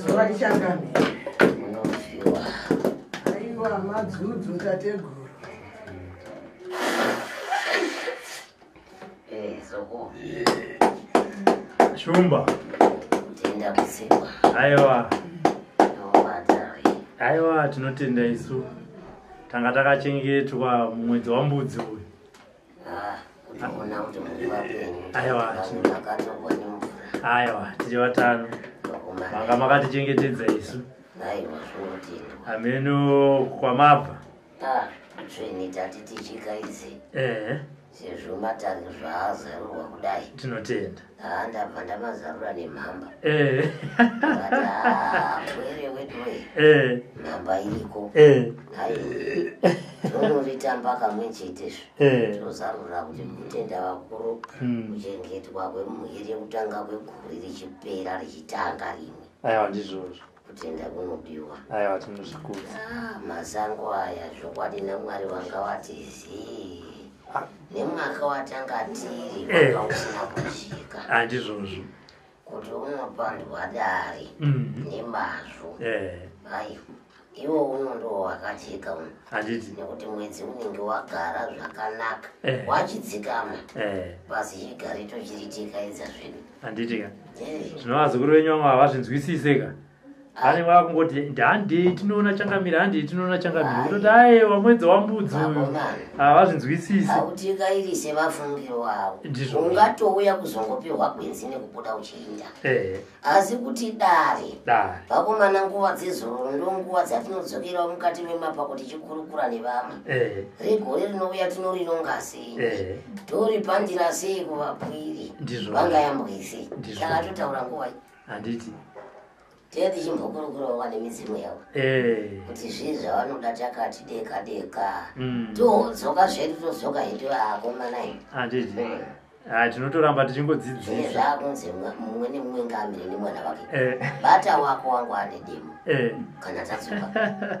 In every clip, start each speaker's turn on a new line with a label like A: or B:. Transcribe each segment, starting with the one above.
A: zuva richangamira munofiwa aiwa madzudzu tateguru shumba kutenda
B: kusikwa aiwa aiwa tinotenda isu
A: tanga takachengetwa mumwedzi wambudzi
B: uyu
A: ah,
B: aiwa tiri vatano
A: manga makatichengetedza isu
B: ameno
A: kwamabva Ah,
B: tsvini tati tichika idzi ehe sezvo matangi zvaazarurwa kudai tinotenda haa
A: ndabva
B: ndamazarura nemhamba ehe But, ah, where wait wait ehe mhamba iriko ehe hai tonoritamba kamwe chetezvo ehe tinozarura kuti kutenda vakuru Mm. kuchengetwa kwemuhiri yekutanga kwegore richipera richitanga rimwe aiwa ndizvozvo
A: kutenda kunobiwa
B: aiwa tinozvikudza
A: ah, mazango
B: aya zvokwadi namwari wanga wati zii ah. nemwaka watanga tiri eh. wanga usina kusvika handizvozvo
A: kuti
B: unopandwa dari mhm. nemazvo eh. aiwa iwo uno ndo wakajeka uno handiti nekuti mwedzi
A: unenge
B: wagara zvakanaka eh. wachidzikama basi chigarito chiritika idza zvedu handiti ka
A: zvino vazukuru venyu vamwe havazvinzwisise ka ane ah. vava kungoti handei tinoona changamire handei tinoona changamire kutoti aewa mwedzi wambudzi uyu havazvinzwisisi ah, autikairise
B: mafungiro avo ndizvo ungatouya kuzongopihwa gwenzi nekubuda uchiinda eh. asi kuti dare dare vakomana nguva dzezororo ndo nguva dzatinodzokerawo mukati memapa kuti chikurukura nevamwe eh. regore rinouya tinorinongasi eh. tori pandira sei kuvabwiri vangayambwise kana totaura nguva handiti
A: tee
B: tichimbokurukurawo vane midzimu yavo eh. kuti zvii zvavanoda takati deka deka mm. todzoka zvedu todzoka hedu akomana i handiti mm.
A: ah, tinotoramba tichingodzidzisa zvakunzi
B: mumwe nemumwe ngamire nemwana vake eh. bata wako wangu ane demo kana tadzoka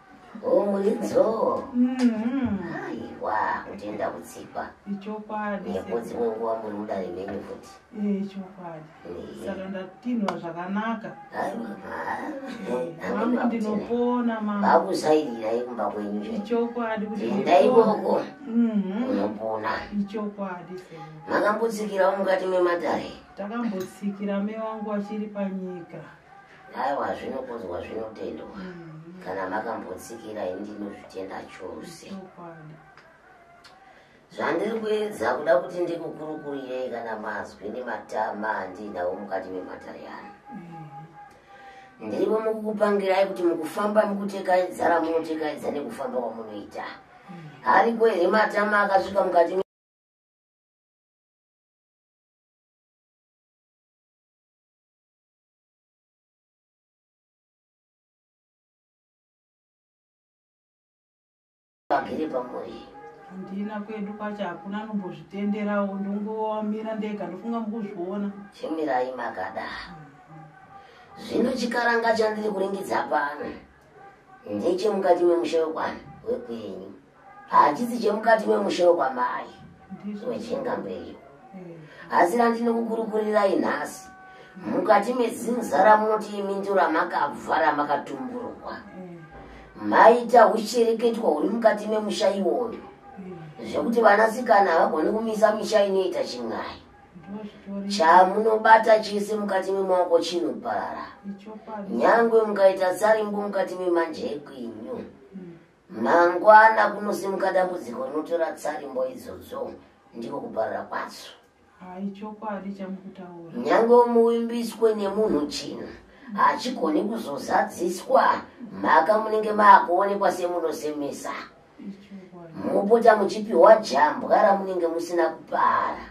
B: Oh, mulidzo. Mm -hmm. Aiwa, kutenda kutsikwa. Ichokwadi.
C: Nekudzi munguwa
B: muri mudare menyu futi. Eh, ichokwadi.
C: Eh. Saka ndatinwa zvakanaka. Aiwa.
B: Mami eh, ndinopona mama.
C: Bakusairira
B: yekumba kwenyu. Ichokwadi kuti.
C: Ndai boko.
B: Mhm. Unopona. Ichokwadi.
C: Makambotsikira
B: mukati mematare. Takambotsikira
C: me wangu achiri panyika. Aiwa
B: zvinokudzwa zvinotendwa. Mm-hmm. Kana makambotsikira ini ndinozvitenda chose. Zvandiri kuedza kuda kuti ndikukurukurirei kana mazwi nematama andiinawo mukati mematare ano. Mm-hmm. Ndirivo mukukupangirai kuti mukufamba mukutekaidzara munotekaiza nekufamba kwamunoita. Mm-hmm. Ariko here matama akasvika mukati vagere pamuri handina
C: kwedu kwacho hakuna anombozvitenderawo ndongomira ndega ndofunga mukuzviona chimirai
B: makada zvino chikaranga chandiri kuringidza pano ndechemukati memusha wekwani wekwenyu hachisi chemukati memusha wekwamai wechenga mberi asi randinokukurukurirai nhasi mukati mezinza ramunoti imi ndiro ramakabva ramakatumburwa maita uchereketwa huri mukati memusha iwoyo zvekuti vanasikana havagoni kumisa misha inoita chin'ai chamunobata chese mukati memaoko chinoparara nyangwe mukaita sarimbo mukati memanje ekwinyu mangwana kunosimuka dambudziko rinotora tsarimbo idzodzo ndiko kuparara kwadzo nyangwe muvimbiswe nemunhu china hachigoni kuzozadziswa mhaka munenge maakuonekwa semunosemesa mopota muchipiwa jambwa ramunenge musina kupara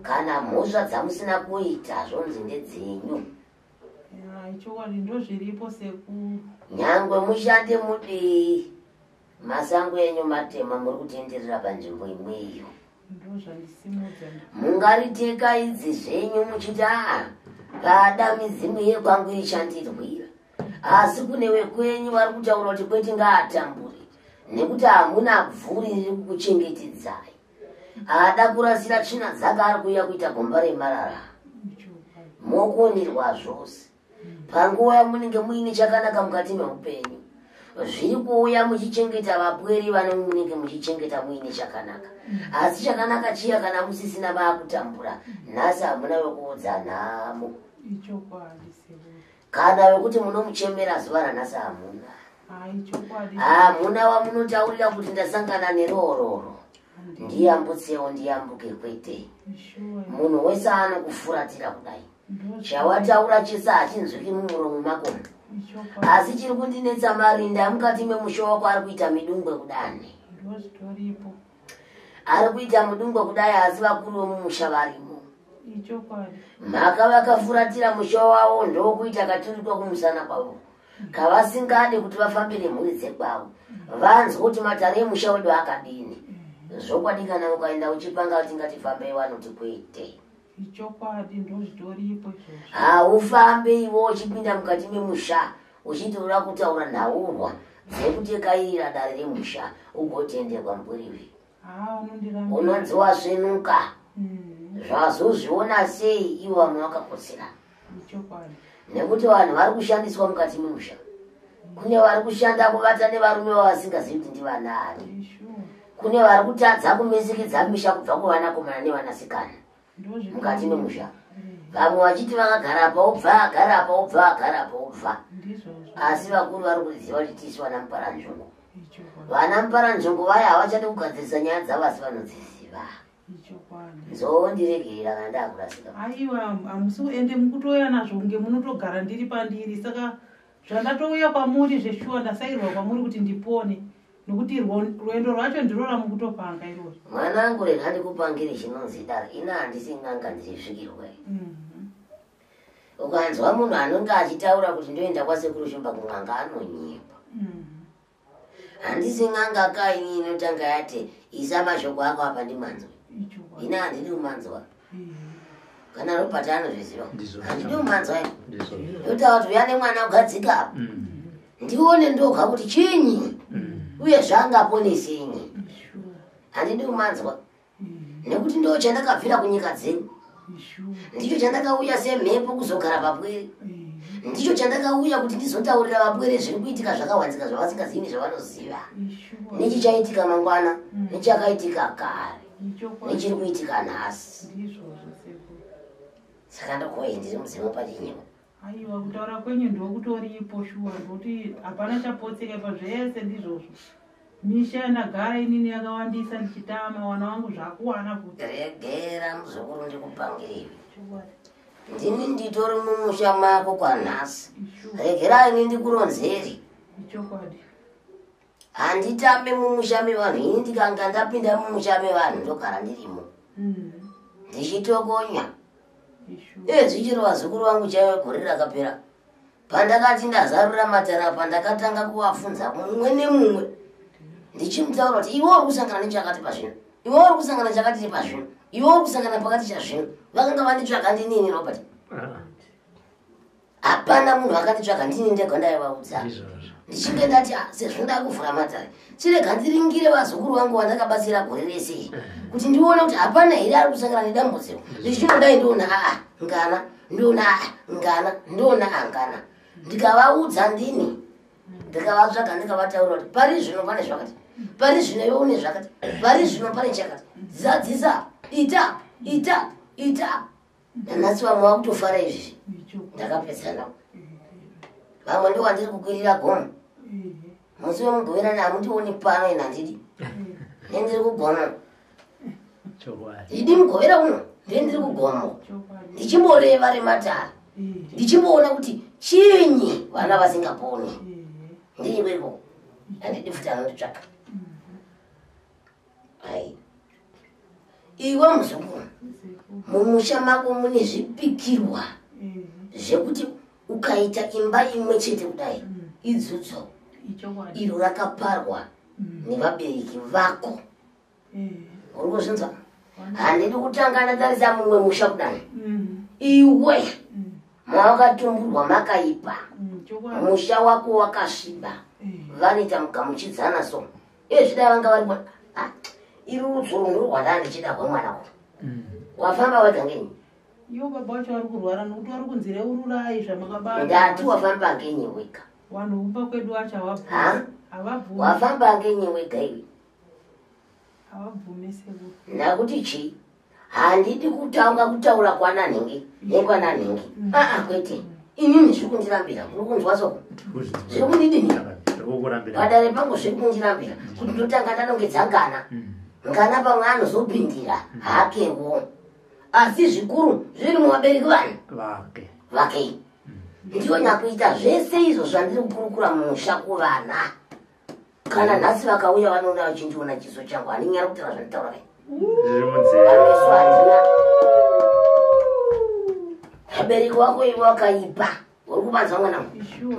B: kana mhosva dzamusina kuita zvonzi ndedzenyu chokwadi ndozviripo sekuru nyangwe mushande mudii masango enyu matema muri kutenderera panzvimbo imweyo mungaritekedzi zvenyu muchiti aa pada midzimu yekwangu ichandirwira asi kune wekwenyu vari kutaura kuti kwete ngaatambure nekuti hamuna bvuri riri kukuchengetedzai haada kurasira tsvina dzake ari kuuya kuita gomba remarara mokonirwa zvose panguva munenge muine chakanaka mukati meupenyu zviri kuuya muchichengeta vapweri vane munenge muchichengeta muine chakanaka asi chakanaka chiya kana musisina vaakutambura nhasi hamuna vekuudza nhamo kana vekuti munomuchemera zuva ranhasi hamuna hamuna wamunotaurira kuti ndasangana neroororo ndiyambutsewo ndiyambuke kwete munhu wese anokufuratira kudai chawataura chese hachinzwiki mumuromo mako asi chiri kundinetsa marinda amukati memusha wako ari kuita midungwe kudani ari kuita mudungwe kudai asi vakuru vomumusha varimo mhaka vakafuratira musha wavo ndokuita katurikwa kumusana kwavo kavasingadi kuti vafambe nemhuri dzekwavo vanzwa kuti matare emusha wedu akadini zvokwadi kana ukaenda uchipanga kuti ngatifambei vanoti kwete ichokwadi ndozvitoripo izvozvo haufambe ivo uchipinda mukati memusha uchitoda kutaura nhaurwa dzekutekairira dare remusha ugotenderwa mburiwi unonzi wasvenuka hmm. zvazozviona sei ivo vamwe vakakotsirana nekuti vanhu vari kushandiswa mukati memusha kune vari kushanda kuvata nevarume vavasingazivi kuti ndivanaani kune vari kutadza kumisikidza misha kubva kuvanakomana nevanasikana mukati memusha vamwe vachiti vakagara pa ubva agara pa ubva agara pa ubva asi vakuru vari kuziva kuti tisu vana muparanzvongo vana muparanzvongo vaya havachadi kugadzirisa nyaya dzavasi vanodziziva zvoondiregerera kana ndakurasika aiwa hamusi
C: ende mukutouya nazvo kunge munotogara ndiri pandiri saka zvandatouya kwamuri zveshuwa ndasairwa kwamuri kuti ndipone nokuti rwendo rwacho ndiro ramukutopanga iroro mwana angu rega
B: ndikupangiri chinonzi daro ina handisi n'anga ndirisvikirwe mhm. ukanzwa munhu anonge achitaura kuti ndoenda kwasekuru shumba kun'anga anonyepa mhm. handisi n'anga ka ini inotanga yati isa mashoko ako apa ndimanzwa ini handidi kumanzwa kana robert anozviziva handidi kumanzwa ndotaura kuti uya nemwana ugadzika apa mm. ndione ndoga kuti chinyi mm. uye zvangaponesenyi handidi kumanzwa nekuti ndo chandakabvira kunyika dzenyu ndicho chandakauya semhepo kuzogara papwere ndicho chandakauya kuti ndizotaurira vapwere zviri kuitika zvakawanzika zvavasingazivi nezvavanoziva nechichaitika mangwana mm. nechakaitika kare nechiri kuitika nhasi saka ndokoye ndiri mudzimu pachinyepo Aiwa kutaura
C: kwenyu ndokutoripo shuwa ngokuti hapana chapotseka ipa zvese ndizvozvo. Misha yandagara inini yakawandisa ndichitama wana wangu zvakuwana kuti. Regera muzukuru
B: ndikupangiriwe. Ndini nditori mumusha mako kwanhasi. Regera ini ndikuronzeri. Ichokwadi. handitambe mumusha mevanhu ini ndikanga ndapinda mumusha mevanhu ndogara ndirimo mm. ndichitokonya ee zvichiro vazukuru vangu chaive gore rakapera pandakati ndazarura matara apa ndakatanga kuvafunza mumwe nemumwe ndichimutaura kuti iwe uri kusangana nechakati pazvino iwe uri kusangana chakati chepazvino iwe uri kusangana pakati chazvino vakanga vanditsvaga ndinini robert ah. hapana munhu akanditsvaga ndini ndega ndaivaudza ndichinge ndati ah, sezvo ndakuvhura matare chirega ndiringire vazukuru vangu vandakabatsira gore rese eh. kuti ndione kuti hapana here ari kusangana nedambudziko ndichichimodai ndiona aa ah, ngana ndiona aa ah, ngana ndiona aa ngana ndikavaudza ndini ndikavatsvaga ndikavataura kuti pari zvino pane zvakati pari zvino iwe une zvakati pari zvino pane chakati zadzisa ita ita ita nanhasi vamwe vakutofara izvi ndakapedzana vamwe ndo wandiri kukwirira gomo musi wemugoverani hamundioni pano ina ndidi nendiri kugomo idi mugovera uno ndendiri kugomo ndichimboreva rematara ndichimboona kuti chinyi vana vasingaponi ndiiweko andidi futi anonditsvaka Hai. Iwe muzukuru. Mumusha mako mune zvipikirwa zvekuti ukaita imba imwe chete kudai idzudzo iro rakaparwa nevabereki vako. Uri kuzvinzwa? Handidi kutanga ndatarisa mumwe musha kudai. Iwe mawakatumburwa makaipa. Musha wako wakasviba. Vanoita mugamuchidzana so. iye zvida vanga vari mwana ah, iri rudzoro ndiri rwanda ndichida hwemwana wa mm. wafamba wega ngenyi iyo baba wacho
C: vari kurwara nokuti vari kunzi reururai zvamakabaa ndati wafamba
B: ngenyi wega vanhu kumba kwedu
C: wacho havabvumi wafamba ngenyi
B: wega iwe havabvumi
C: sekuru nakuti chii
B: handidi kutanga kutaura kwananhingi nekwananhingi aa kwete inini zviri kundirambira kuri kunzwa soko zviri kundidini padare pangu zviri kundirambira kuti ndotanga ndanongedza ngana ngana pamwe anozopindira hakewo asi zvikuru zviri muvabereki vani vakei ndiyo nyakuita zvese izvo zvandiri kukurukura mumusha kuvana kana nhasi vakauya vanoona vachindiona chiso changu handinyara kutaura zvanditaura kai vameso handina abereki wako ivo wakaipa uri kubanza mwana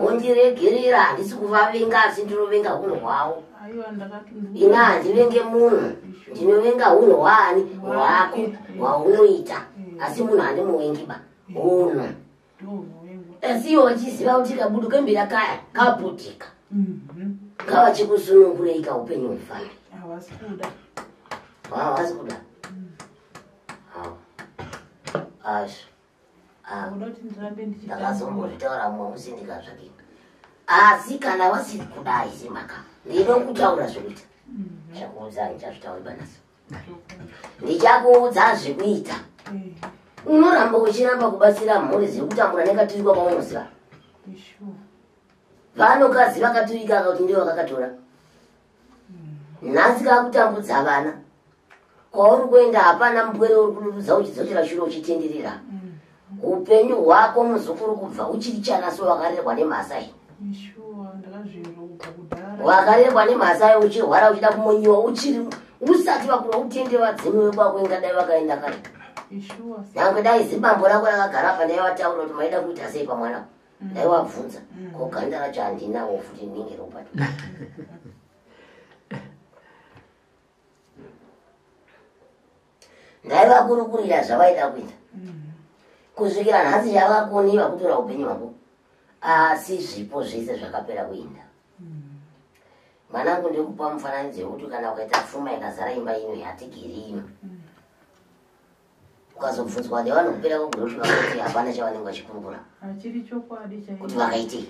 B: undiregerera handisi kuvavenga asi ndinovenga hunhu hwavo ina handivenge munhu ndinovenga hunhu hwaani hwako hwaunoita asi munhu handimuvengiba hunhu asi iwe wachiziva kuti kabudu kembira kaya kaputika mhm. kavachikusunungurei kaupenyu hwefamili havasi kuda havasi kuda azvo ndakazombotaura mumwe musi ndikazvakii asi kana wasiri kudai simaka ndinoda kutaura zvekuita mm-hmm. zvakuudzai chazvitauri banaso ndichakuudza zvekuita mm. unoramba uchiramba kubatsira mhuri dziri kutambura nekaturikwa kwaunoziva vanokadzi vakaturika aka kuti ndivo vakakatora mm. nhasi kakutambudza vana kwauri kuenda hapana mbwere uri kudududza uchidzokera shure uchitenderera mm. Hupenyu hwako muzukuru kubva uchiri chana so wakarerwa nemhasai. Wakarerwa nemhasai uchirwara uchida kumonyiwa uchiri usati wakura utende vadzimu vekwako ingadai vakaenda kare. Nyangwe dai zibambo rako rakagara apa ndai wataura kuti maida kuita sei pamwana. Mm. Ndai wabvunza mm. ko ganda racho handinawo futi ndinenge ropa. ngaivakurukurira zvavaida kuita kusvikira nhasi yavakoni vakutora upenyu hwako asi zvipo zvese zvakapera kuinda mwanangu ndiri kupa mufananidzo yekuti kana ukaita fuma ikazara imba ino yatigiri ino ukazobvunzwa kuti vanokupera kugurosvika kuti hapana chavanenge vachikurukura
C: kuti vakaitei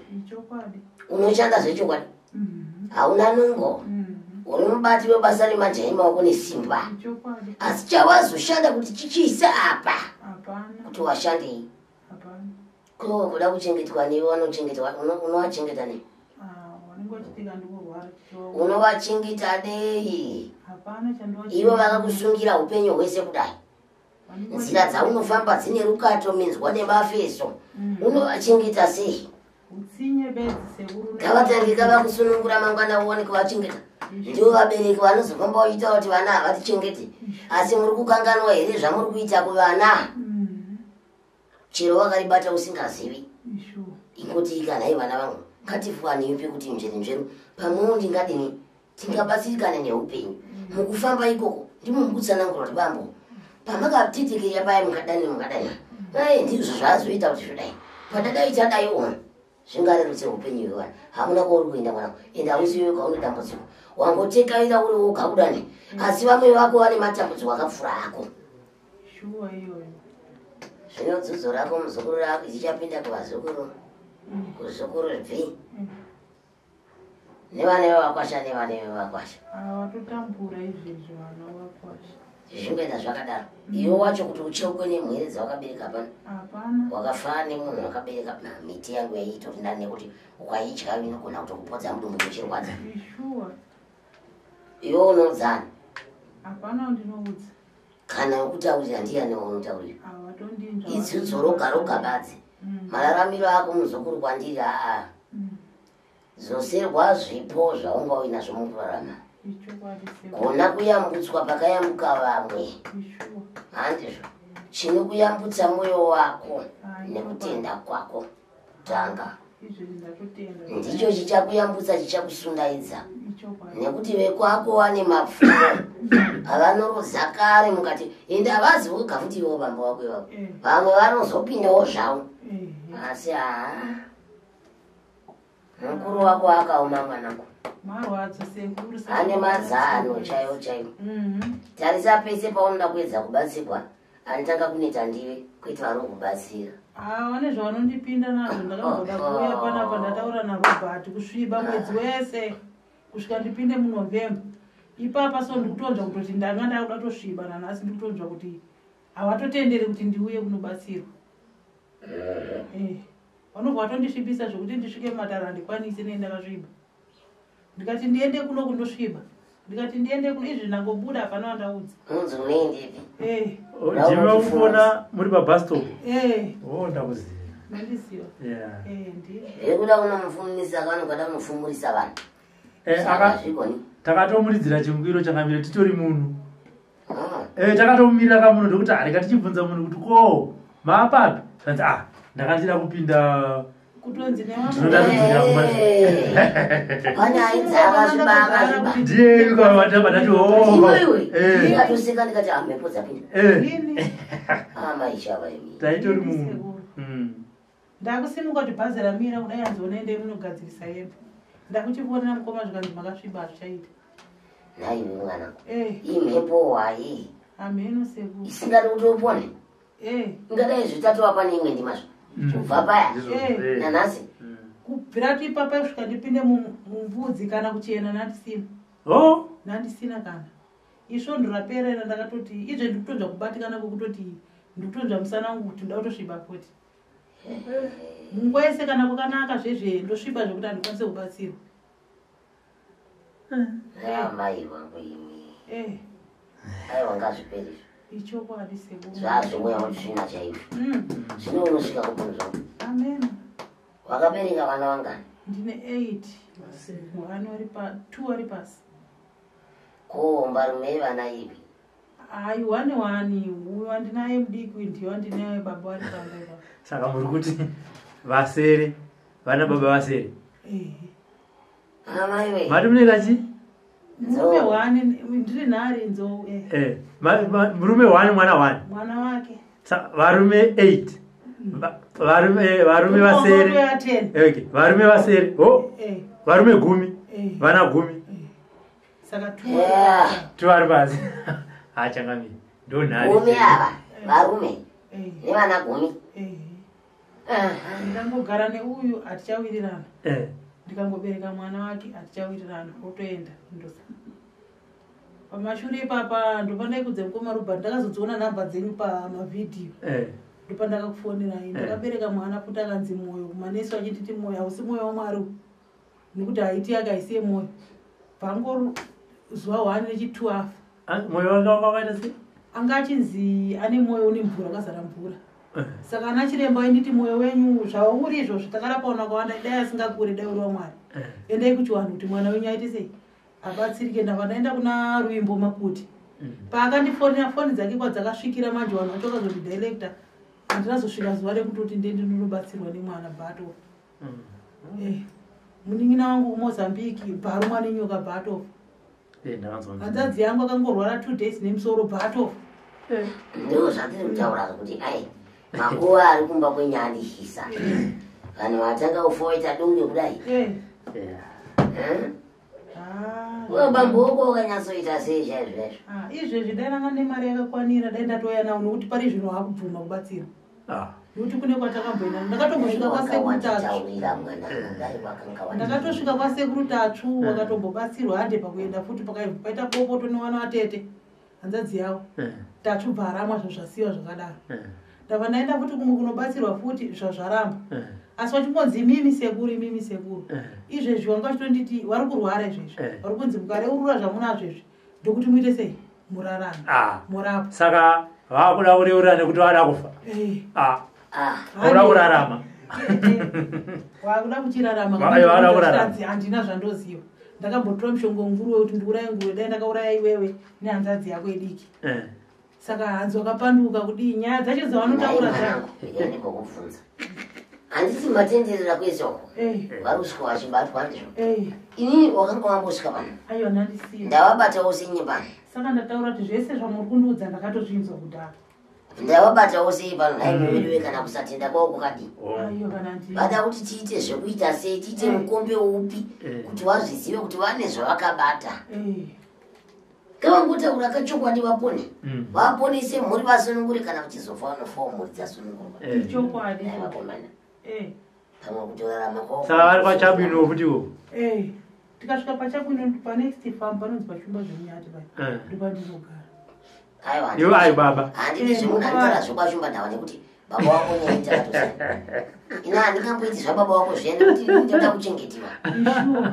C: unoshanda zvechokwadi
B: mm-hmm. hauna nungo mm-hmm. uri mubati webasa remajaya emaoko nesimba asi
C: chawazoshanda
B: kuti chichiisa apa kuti
C: washandei ko kuda
B: kuchengetwa newe wanochengetwa unowachengeta nei
C: unovachengeta
B: nei
C: ivo vakakusungira
B: upenyu hwese kudai nzira dzaunofamba dzine rukato minzwa nemafeso mm. unovachengeta sei
C: ngavatange kava
B: kusunungura mangwana uone kuvachengeta ndivo vabereki vanozofamba vachiita kuti vana havatichengete asi muri kukanganwa here zvamuri kuita kuvana mm. chero wakaribata usingazivi ingoti kana hei vana vangu ngatifuani yupi kuti mzveri mzveru pamwewo ndingadini tingabatsirikane neupenyu mm. mukufamba ikoko ndimo mukutsanangura kuti bambo pamakatitikira paya mukadani mukadani ai ndizvo zvaazoita kuti zvodai padadai chadai ona zvingarerutse upenyu hwevana hamuna kwauri kuenda mwana ende hausiwe kwaune dambudziko wangotekaira uri woga kudani mm. asi vamwe vako vane matambudziko akapfura ako
C: shuwa iyoyo zvino
B: dzudzo rako muzukuru rako dzichapinda kuvazukuru mm. kuzukuru bvi mm. nevana vevakwasha nevana vevakwasha
C: vatotambura izvezvi vana vakwasha zvingoenda
B: zvakadaro mm. iwe wacho kuti ucheukwe nemwere dzawakabereka pano wakafana
C: nemunhu
B: wakabereka miti yangu yaiitori ndani nekuti ukaidya inogona kutokupodza mudumbu kuchirwadza iwe unodzana hapana
C: ndinoudza kana
B: ukutaurira ndiyani waunotaurira
C: idzudzu roga roga
B: badzi mm. mararamiro ako muzukuru kwandiri aa mm. zoserwa zvipo zvaunga uinazvo mukurarama gona kuyambutswa pakayambuka vamwe handizvo chine kuyambutsa mwoyo wako nekutenda kwako tanga ndicho chichakuyambutsa chichakusundaidza nekuti vekwako wane mapfumo avanorodza kare mukati ende havazi voga futi ivo bamba wako ivavo eh. vamwe vanozopindawo zvavo eh. asi haa mukuru wako akaoma mwanangu marwadzo
C: sekuru ane mazano
B: chaiwo chaiwo mhm. tarisa pese paunoda kuedza kubatsirwa anotanga kuneta ndiwe kwete vari kubatsira ah, vane
C: zvavanondipinda nazvo ndakamboda oh, kuuya oh. panapa ndataura narobert kusviba mwedzi wese kusvika ndipinde munovember ipapa so ndikutonzwa kutoti ndanga ndakuda tosviba nanhasi ndikutonzwa kuti havatotenderi kuti ndiuye kunobatsirwa eh. eh. vanobva vatondisvibisa zvekuti ndisvike mumatare handikwanise nei ndakasviba ndikati ndiende kuno kundosviba ndikati ndiende kuno izvi ndangobuda hapana vandaudza
A: ndimamufona eh. oh, muri pabastop eh. o oh, ndakuziva mandiziva zvekuda eh, kunomufumisa
B: vanhu kada kumufumurisa vanhu takatomuridzira
A: chingwiro changamira titori munhu Eh, takatomirira kamuno ndokuti hareka tichibvunza munhu kuti ko maapapi tanzi ah ndakandida kupinda taitori munhu
C: Ndakusimuka kuti bhazi ramira kudai hanzi onai ndai munogadzirisa hembe. Ndakuchivonera mukoma zvikanzi makasviba hazvichaita. Nhai imi
B: mwana. Eh. Iyi mhepo wayi. Hameno seku.
C: Isingadi kuti upone.
B: Eh. Ingadai zvitatu apa neimwe ndima zvo. Mm. Kubva paya. Eh. Nanhasi. Mm. Kubvira
C: kuti ipapa kusvika ndipinde mumvudzi kana kuchena nandisina. Oh. Nandisina kana. isvondo raperera ndakatoti izve ndikutonzva kubatikana kwekutoti ndikutonzva musana wangu kuti nda kutosviba futi munguva yese kana kwakanaka zvezve ndosviba zvekuti handikwanise kubatsirwa
B: amai vangu imi eh. aiwa ngazviperi ichokwadi
C: sebu zvazvimweya mutsvina
B: chaizvo mm. zvino unosvika kubvunhu zvangu amen
C: wakabereka
B: vana vangani ndine
C: eight vana vari pa two vari pasi Ko
B: mbarume yevana ipi? Aiwa
C: newani uyo andinaye mudiki uyu ndiyo andinaye baba vari panguva. Saka muri kuti
A: vasere vana baba vasere? Ehe. Amai
B: wee. Mati mune kachi?
A: Murume
C: wani ndiri nari nzou. Eh. Eh.
A: Murume wani mwana wani? Mwana wake.
C: varume 8
A: varume eh, varume vasere okay varume vasere ho oh,
C: eh.
A: varume gumi eh. vana gumi
C: saka tu
A: tu vari basi ha changami ndo nhari gumi ava
B: varume ne vana gumi
C: ndangogara ne uyu atichawirirana ndikangobereka mwana wake atichawirirana otoenda ndosa pamashure ipapa ndopandaiudza mukoma robert ndakazodziona number dzenyu pamavhidhiyo eh. ndopandakakufonerai eh. ndakabereka mwana futi akanzi mwoyo kumanesi vachinditi mwoyo hausi mwoyo wamwari nekuti haiti yake haisiye mwoyo pango zuva one nechitwo afa ah, mwoyo wake
A: wakavaita se anga achinzi
C: ane mwoyo une mvura akazara mvura eh. saka ana chiremba ainditi mwoyo wenyu zvauri izvozvo takarapaona kwawanda dai asingakure dai uri wamwari endai kuchiwanhu kuti mwana wenyu aite sei abatsirike ndava ndaenda kuna ruimbo makuti mm-hmm. paakandifonera foni dzake kwadzakasvikira manje vanhu vacho vakazoti director handinazosvika zuva rekutoti ndendi ndinobatsirwa nemwana bato mm-hmm. eh, munin'ina wangu kumozambique bharumwa nenyoka bato eh, hanzadzi yangu akangorwara two days nemusoro bato eh.
B: ndoo zvandiri kutaura kuti ai makuva ari kumba kwenyaya ndishisa vanhu vatanga kufoita dunge kudai bambuko wakanyatsoita sei chaizvo izvo ah, izvezvi dai ranga
C: nemari yakakwanira dai ndatouya nawo nokuti pari zvino hakubvuma kubatsira ah. nokuti kune kwatakamboenda ndakatombosvika kwasekuru tatundakatosvika kwasekuru tatsvu mm. wakatombobatsirwa hande pakuenda futi pakaiva paita bopoto newana vatete hanzadzi yavo eh. tachubva aramwa zvazvasiwa zvakadaro eh. ndava ndaenda futi kumwe kunobatsirwa futi zvazvaramba eh. asi wachingonzi imimi sekuru imimi sekuru izvezvi wanga vachitonditi wari kurwara izvezvi wari kunzi mukareurura zvamunazvo izvi ndokuti muite sei murarana ah. murapa saka vava
A: kuda kureurura nekuti vada kufa ah. Ah. Hauna kurarama.
C: Wakuda kuchirarama. Wakuda kurarama. Handina zvandoziva. Ndakambotora mushonga wenguruwe kuti ndiuraye nguruwe dai ndakauraya iwewe nehanzadzi yako idiki. Eh. Saka hanzi wakapanduka kudii nyaya dzacho dzavanotaura dzako. Ndiyani kokubvunza.
B: Handisi matenderera kwezoko. Eh. Vari kusvika vachibatwa ndizvo. Eh. Ini wakanga wambosvika pano. Aiwa nandisiya.
C: Ndavabatawo senyimba.
B: Saka ndataura kuti
C: zvese zvamuri kundiudza ndakatozvinzwa kudhara. ndawabatawo
B: sei pano nai mm. veduwe kana kusatenda kwavo kwakadii
C: vada kuti tiite
B: zvekuita sei tiite mm. mukombe upi mm. kuti vazvizive kuti vane zvavakabata kavangotaura kachokwadi vapone vaponese mhuri vasunungure kana vachizofa vanofawo mhuri dzasunungurwa
C: vakomana
B: pamwe kutorarama ko saka vari pachabwino
A: futi wo eh tikasvika
C: pachabwino pa next farm panonzwa shumba zvemunyati pai eh. ndopa ndizogara aiwa yo ayi
A: baba handiti eh, zvimwe ndandara
B: zvoba shumba ndawa nekuti baba wako nyaita atosa ina handingamboiti zva baba wako zviya nekuti ndoda kuchengetiwa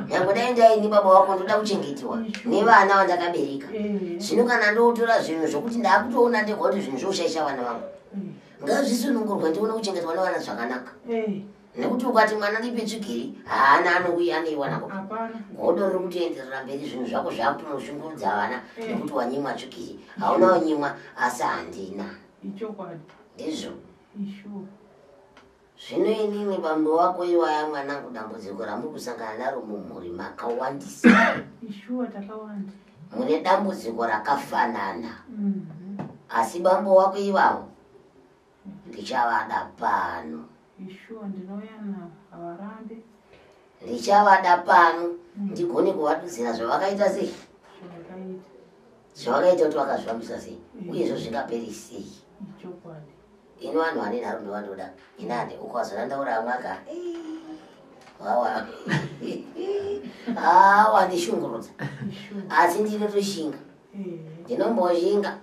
B: nyange dai ndaini baba wako ndoda kuchengetiwa nevana vandakabereka eh. zvino kana ndotora zvinhu zvokuti ndaakutoona ndegoti zvinhu zvoushaisha vana vangu ngazvisunungurwe ndione kuchengetwa nevana zvakanaka eh. nekuti ukati mwana lipi tsvigiri haana anouya aneiwanako godo riri kutoenderera mberi zvinhu zvako zvakutonoshungurudza vana eh. nekuti wanyimwa tsvigiri hauna wanyimwa asi handina ndizvo Zvino inini bambo wako iwaya mwanangu dambudziko ramuri kusangana naro mumhuri makawandisa. Ishuwa takawanda. Mune dambudziko rakafanana. Mm -hmm. Asi bambo wako ivawo ndichavada pano. Ishuwa ndinouya navo havarambe. Ndichavada pano mm. ndigone kuvadudzira zvavakaita sei? Zvavakaita kuti vakazvifambisa sei? Mm. Uye izvo zvingaperi sei? Ichokwadi. Ini vanhu vane nharo ndovandoda. Inani uko wazoranda uri amwaka. Wawa. Ah, wandishungurudza. Asi ndinotoshinga. Ndinomboshinga.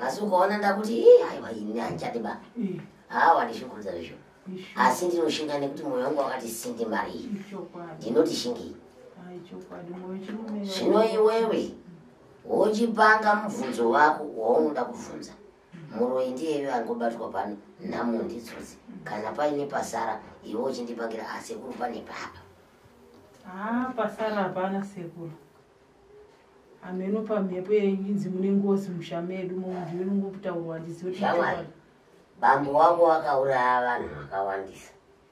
B: Asi ukaona ndakuti ii aiwa ini handichadi ba. Ah, wandishungurudza zvisho. Asi ndinoshinga nekuti mwoyo wangu wakati sindi mari iyi. Ndinoti shingei. Zvino iwewe wochipanga mubvunzo wako waunoda kubvunza. Muroyi ndiyeyo angobatwa pano nhamo nditsotsi kana paine pasara iwe uchindipangira asekuru ah, pane papa haa pasara hapana
C: sekuru hameno pamhepo yeinzi mune ngozi musha medu munhu inongokutaurwa ndizioshamwari
B: bambo wako wakauraya vanhu vakawandisa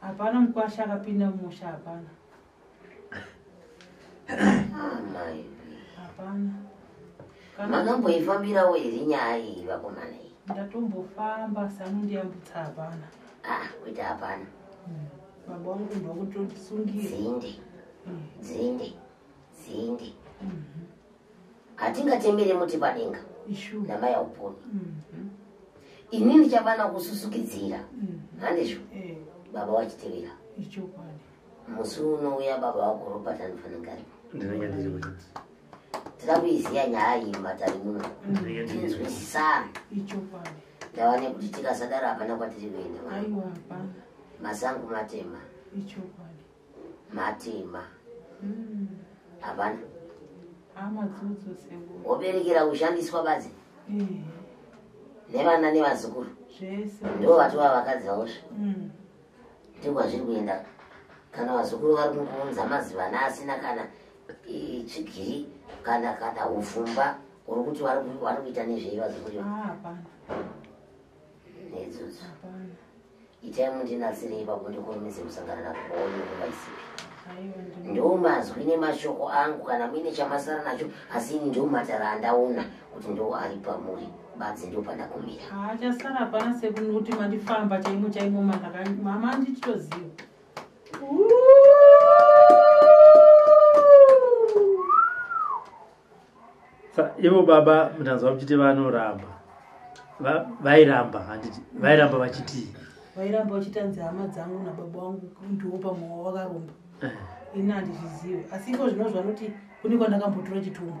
A: Hapana
C: mkwasha akapinda mumusha hapana. Ah, mai. Hapana. Makamboifambirawo
B: here nyaya iyi vakomana iyi? Ndatombofamba
C: asi anondiyambutsa hapana. Ah, kuita
B: hapana. Hmm. Baba
C: wangu ndo kutondisungire. Dzinde. Hmm. Dzinde.
B: Dzinde. Mhm. hatingatembere muti padenga namai auponi mhm. ini ndichavana kususukidzira mhm. handizvo eh. baba wachitevera musi unouya baba wako robert anofanira tira kuiziva nyaya iyi matari muno tinzwisisana ndava nekuti tikasadaro hapana kwatiri kuenda masango matema matima hmm. hapana woberekera kushandiswa badzi nevana nevazukuru ndo vatova vakadzi vaosva hmm. ndikwazviri kuenda kana vazukuru vari kukuunza mazivana asina kana chigiri kana kana ufumba uri kuti vari kuita nezvei vazukuru ah, nedzudzo itai mundinatsirei ipapo ndikurumidze kusangana nakuoni nguva isipi ndiwo mazwi nemashoko angu kana muine chamasara nacho asi ini ndiwo matara andaona kuti ndiwo ari pamuri badzi ndiwo pandakumira achasara hapana
C: sekuti mandifamba chaimo chaimo mama andititoziva
A: Sa, ivo baba mutanzwa muchiti vanoramba Va- vairamba handiti vairamba vachitii vairamba vachitanzi
C: hama dzangu nababa wangu ndiwo pamwe wawakaromba Eh, ini handizvizive asi iko zvino zvanoti kune kwandakambotura chitumwa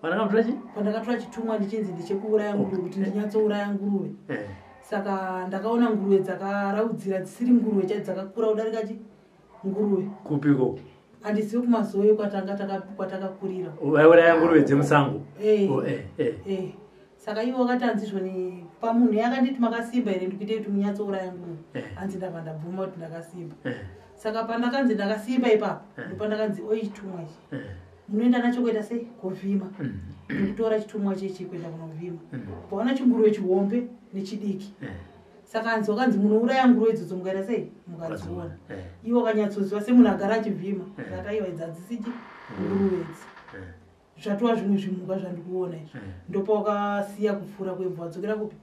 C: vanakambotora chii kwandakatura chitumwa ndichinzi ndichekuuraya nguruve kuti ndinyatsouraya nguruve Eh, saka ndakaona nguruve dzakaraudzira dzisiri nguruve chai dzakakura kudarika chi nguruve kupi ko
A: handizivi
C: kumazoe kwatanga kwatakakurira vaiuraya nguruve
A: dzemusango eh. oh, eh, eh. eh.
C: saka ivo wakati hanzi zvoni pamunhu ye akanditi makasimba here ndikuitei kuti munyatsouraya nguruve eh. hanzi ndava ndabvuma kuti ndakasimba eh. saka pandakanzi ndakasimba ipapo eh. ndopandakanzi oi chitumwa ichi eh. munoenda nacho kuita sei kovhima mm. nekutora chitumwa chechi kuenda kunovhima mm. paona chinguruve chihombe nechidiki eh. saka anzi wakanzi munouraya nguruve idzodzo mukaita sei mukadziona eh. iwo kanyatsoziva semunhu agara achivhima eh. zvataiwa idzi hadzisiti mm. nguruve idzi eh. zvatova zvimwe zvimhuka zvandikuona izvo ndopa wakasiya kupfuura kwebva wadzokera kupi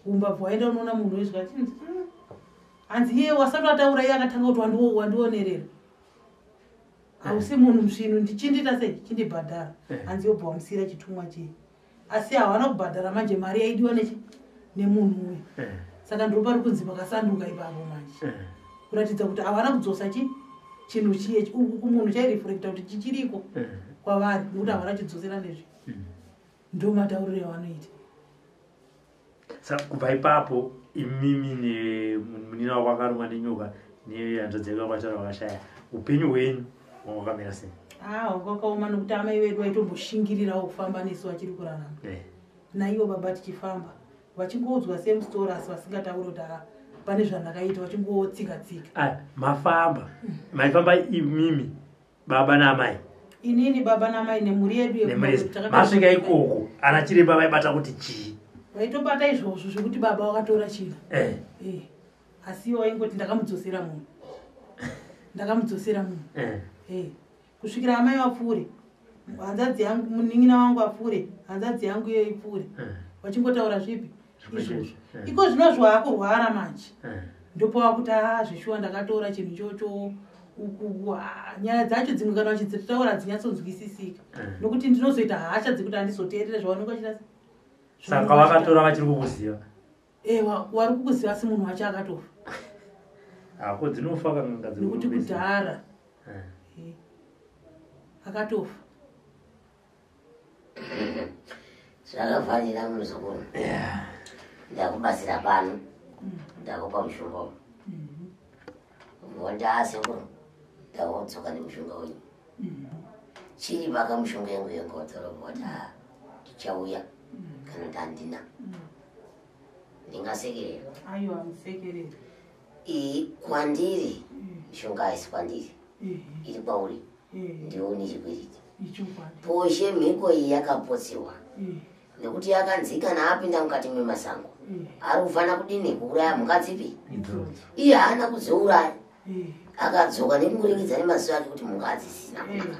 C: kumba bva waenda unoona munhu wezvo achinzi mm. hanzi iye wasati wataura iye akatanga kuti wandionerera hausi munhu msvinu ndichindiita sei chindibhadhara hanzi yobva wamusiyira chitumwa chii asi hawana kubhadhara manje mari yaidiwa nechi nemunhu uyu eh. saka ndiro pari kunzi pakasanduka ipapo manje eh. kuratidza kuti havana kudzosa chi chinhu chiye kumunhu chairefrekta kuti chichiriko eh. kwavari nokuti havana chidzosera nezvi hmm. ndomatauriro yavanoita
A: saka kubva ipapo imimi nemunina wako akarumwa nenyoka nehanzvadzi yako yakwatara vakashaya upenyu hwenyu wanga wakamira sei ah, kwakaoma
C: nokuti amai vedu vaitomboshingirirao kufamba nesu vachiri kurarama eh. naivo baba tichifamba vachingoudzwa same story asi vasingatauri kuti ah, pane zvandakaita vachingotsika tsika ah, mafamba
A: maifamba imimi baba naamai inini baba
C: naamai nemhuri yedu masvika ikoko
A: ana chiremba vaibata kuti chii vaitobata izvozvo
C: zvekuti baba wakatora china eh. eh. asi iwo waingoti ndakamudzosera munhu ndakamudzosera munhu eh. eh. kusvikira amai vapfuure hanzadzi yangu munin'ina wangu apfuure hanzadzi yangu iyo ipfuure eh. vachingotaura zvipi izvozvo eh. iko zvinozvo akurwara manje eh. ndopava kuti a ah, zveshuwa ndakatora chinhu chocho ah, nyaya dzacho dzimwe kana vachidzitaura hadzinyatsodzwisisika eh. nokuti ndinozoita hasha dzekuti handizoteerere zvavanenge vachita saka
A: vakatora vachiri kukuziva ewa wari
C: kukuziva asi munhu wacho akatofa
A: hako dzinofa kanangadzinokuti kudhara
C: akatofa
B: zvakafanira muzukuru ndakubatsira pano ndakupa mushonga uyu vondaa mm-hmm. sekuru ndawodzoka nemushonga uyu mm-hmm. chiri vaka mushonga yangu yegodzoro vota ndichauya mm-hmm. kana ndandina ndingasekerera
C: iyi kwandiri
B: mishonga haisi kwandiri iri kwauri ndiwe une chikwereti poshe mhiko iyi yakapotsiwa nekuti yakanzi kana apinda mukati memasango ari kufanira kudini kuuraya mhuka dzipi iye haana kudziuraya akadzoka nekungoringidza nemaziso ake kuti mhuka hadzisina kunaka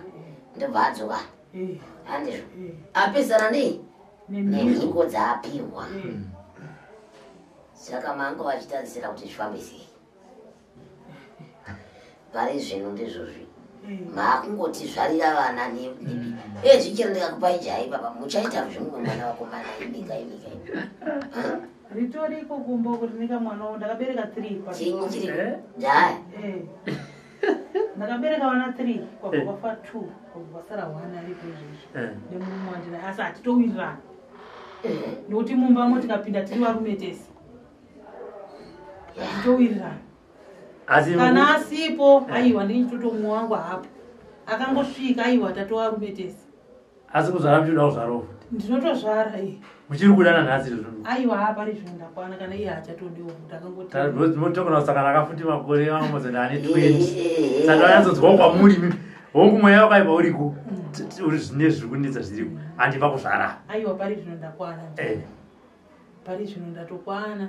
B: ndobva adzoka handizvo apesana nei nemhiko dzaapihwa saka manga vachitarisira kuti zvifambe sei pari zvinhu ndizvozvi mm. maakungoti zvarira vana ezvichero ndikakupai jai baba muchaita zvimwe mwana wakomana imika imika
C: ritoriko kumbo kuti nika mwana wo ndakabereka three chinyi chiri
B: jai eh.
C: ndakabereka vana three kwabva eh. kwafa two kwabva kwasara one aripo izvezvi eh. nemurume wandina asi hatitowirirana eh. nokuti mumba mo tikapinda tiri varume tese hatitowirirana kana asipo aiwa ndinyi titotomuwangu hapo akangosvika aiwa tatovarume tese asi kuzvara
A: muchida kuzvarawo ndinotozvara
C: i muchiri
A: kudana nhasi izvo aiwa hapari zvinhu
C: ndakwana kana iye hachatodiwo kuti akangotiotokona kusangana
A: akafuti makore vangu mozenda ane twenty saka anyatsonzwa kwamuri mi hongu mweya wakaipa uriko mm. uri zvine zviri kunetsa zviriko handipa kuzvara aiwa pari zvino
C: ndakwana eh. pari zvino ndatokwana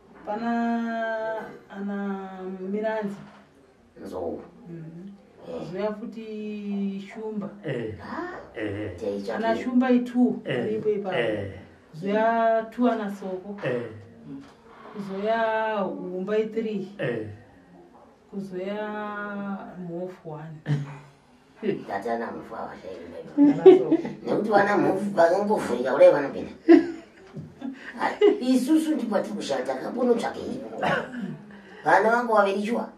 C: Pana ana Miranzi. Nzou.
B: Mhm.
C: Zouya eh. futi Shumba. Eh. Ah, eh. eh. Ana
B: Shumba itu. Eh.
C: Ipo ipa. Eh. Zouya tu ana Soko. Eh. Zouya Humba itri. Eh. Kuzouya Mhofu one. ndati ana mhofu
B: havashairira nekuti vana mhofu vakangovhurika kudai vanopinda isusu ndikwatiri kushaya takambonotsvake iko vana vangu vaviri shuwa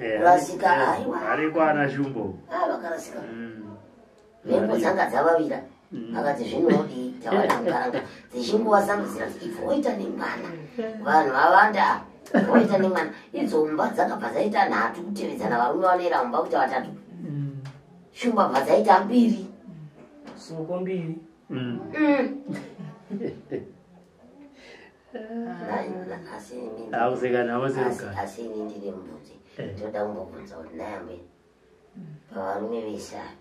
B: eh, kurasika eh, aiwa ariko ana shumbo
A: ah, vakarasika
B: mm. mhepo dzanga dzavavira Mm. akati zvinodii tawana mukaranga dzichinguva zangu zirati ibvo woita nemwana vanhu vavanda woita nemwana idzo mba dzakabva dzaita nhatu kutevedzana varume vanoera mumba kuita vatatu mm. shumba bva dzaita mbiri soko
D: mbiri
B: mm. asi ini ndine mbudzi eh. ndinoda kumbobvunza kuti nayambe pavarume vese ava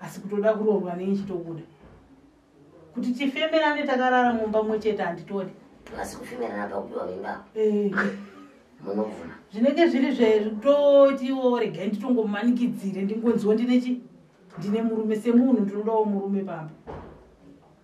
C: asi kutoda kuroorwa nei chitokuda kuti tifemerane takarara mumba mwe chete handitodi asi kufemerana
B: pakupiwa mimba eh. munobvuma zvinenge
C: zviri zvetotiwo regai nditongomanikidzire ndingonziwo ndine chi ndine murume semunhu ndinodawo murume pamba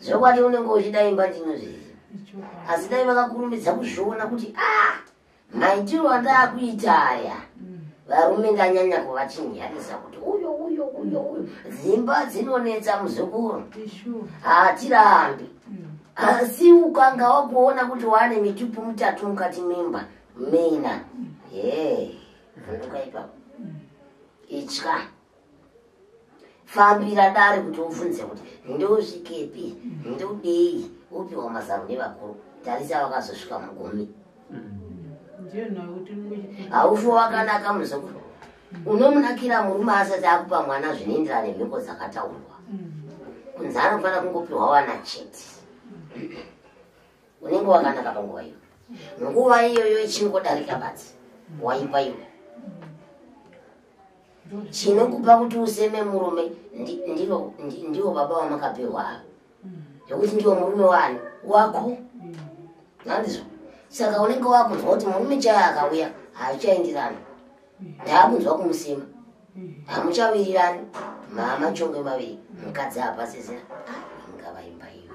B: zvokwadi unenge uchida imba ndino zvese asi dai vakakurumidza kuzviona kuti a ah, maitiro andaakuita aya mm. varume ndanyanya kuvachinjanisa kuti uyo uyo uyo uyo dzimba dzinonetsa muzukuru hatirambi mm. asi ukanga wakuona kuti waane mitupu mitatu mukati mimba mina mm. ye vunduka ipapo itya yeah. fambira dare kuti ufunze kuti ndousvikepi ndodei upiwa mazano nevakuru tarisa vakazosvika mugumi haufi wakanaka muzukuru unomunakira murume asati akupa mwana zvinoenderana nemhiko dzakataurwa kunzi anofanira kungopiwa wana chete unenge wakanaka panguva iyo nguva iyoyo ichingodarika bati waipa iwe chinokupa kuti useme murume ndivo baba vamakapihwa ava zvekuti ndiwo murume wani wako nandizvo saka unenge wakunzwa kuti murume chaya akauya haachaindirani ndaakunzwa kumusima hamuchawirirani mama chongwe maviri mukadzi hapasizira ingavaimba iyo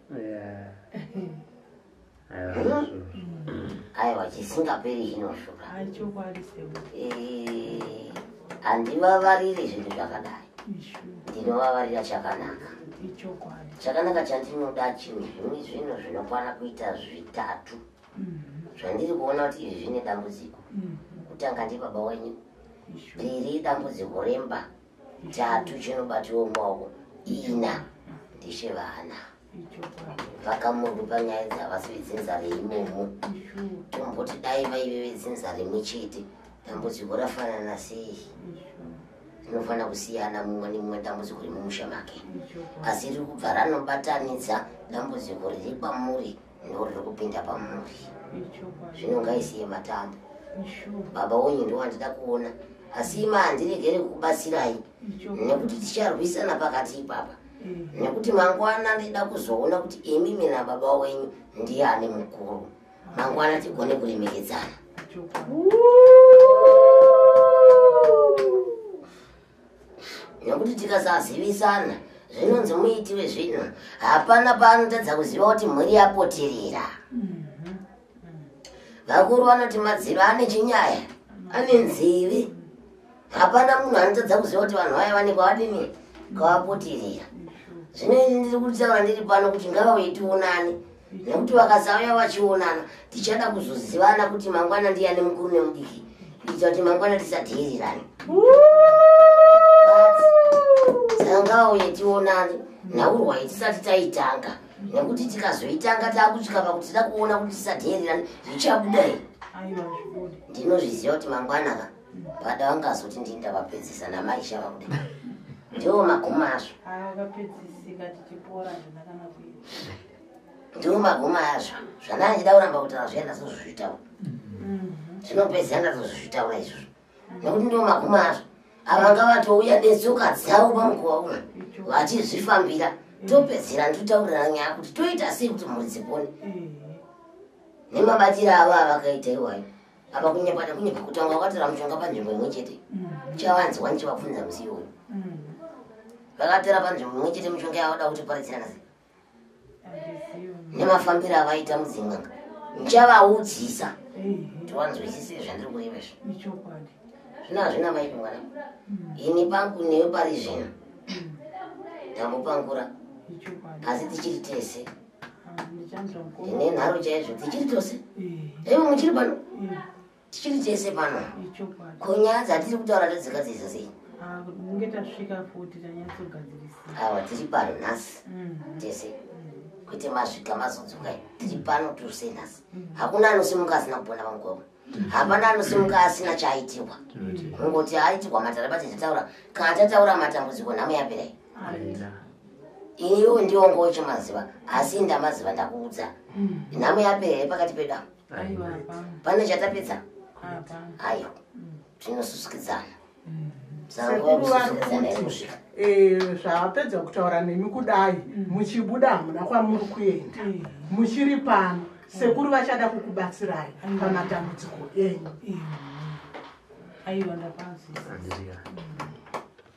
B: aiwa chisingaperi chinoshuka handivavariri zvinhu zvakadai ndinovavarira chakanaka chakanaka chandinoda chinhu zvimwe zvinhu zvinokwana kuita zvitatu mm-hmm. zvandiri kuona kuti izvi zvine dambudziko mm-hmm. kutanga ndibaba wenyu riri dambudziko remba ntatu chinobatiwa mumaoko ina ndechevana vakamunhu panyaya dzavasi vedzinza reimomo tomboti dai vaive vedzinza rimwe chete dambudziko rafanana sei rinofanira kusiyana mumwe nemumwe dambudziko remumusha make asi riri kubva ranobatanidza dambudziko riri kwamuri ndoriri kupinda pamhuri zvino ngaisiye matanda baba wenyu ndowandida kuona asi ima handiregere kukubatsirai nekuti ticharwisana pakati ipapa nekuti mangwana ndida kuzoona kuti imimi nababa wenyu ndiye ane mukuru mangwana tigone kuremekedzana nekuti tikasazivisana zvinonzi muiti wezvinhu hapana paanotadza kuziva kuti mhuri yapotirira mhm. vakuru vanoti madziro ane chinyaya ane nzivi hapana munhu anotadza kuziva kuti vanhu vaya vane kwavadini kwavapotirira zvino ini ndiri kutaura ndiri pano kuti ngavauitionani nekuti vakasauya vachionana tichada kuzozivana kuti mangwana ndiyane mukuru nemudiki kuitira kuti mangwana tisadheerirane tangauye tionane nhaurwayi tisati taitanga nekuti tikazoitanga takusvika pakuti tida kuona kuti tisadheerirane zvichabuda here ndinozviziva kuti mangwana ka pada vangazoti ndini ndavapedzisa namai shava kuda ndiwo magumo azvo ndiwo maguma azvo zvandaa ndida kuramba kutaura zviya ndazozvitaura zvinopedzisa ndazozvitaura izvozvo nekuti ndiwo maguma azvo avanga vatouya netsoka dzavo pamukuva uno vachizvifambira topedzera nditotaurirana nyaya kuti toita sei kuti mhuri dzipone nemabatiro avo avakaita iwayo apa kunyepata kunyepa kutanga wakatora mushonga panzvimbo imwe chete chavanzwa ndichivabvunza musiwo vakatora panzvimbo imwe chete mushonga yavada kuti paridzirana sei nemafambiro avaita mudzin'anga ndichavaudzisa kuti vanzwisise zvandiri kureva izvo zvino hazvina maipi mwana ini pangu newe pari zvino ndambopangura asi tichiri tese ndine nharo chaizvo tichiri tose aiwa muchiri pano tichiri tese pano konyaya dzatiri kutaura tadzigadzirisa sei ah, kunge tasvika futi tanyatsogadzirisa awa tiri pano nhasi mm-hmm. tese mm-hmm. kwete masvika mazodzoka tiri pano tose nhasi mm-hmm. hakuna anosimuka asina kupona pamugwavo hapana anosimuka asina chaaitirwa kungoti aitirwa matara bati tataura kana tataura matambudziko nhamo yapirai iwo ndiwo ngochimaziva asi ndamaziva ndakuudza nhamo yapirai pakati pedamu pane chatapedza ayo tinosvisikidzana
E: zvapedza kutaura nemi kudai mm. muchibuda hamuna kwamuri kuenda mm. muchiri pano sekuru vachada kukubatsirai mm. pamatambudziko enyu
B: aiwa ndapanzisa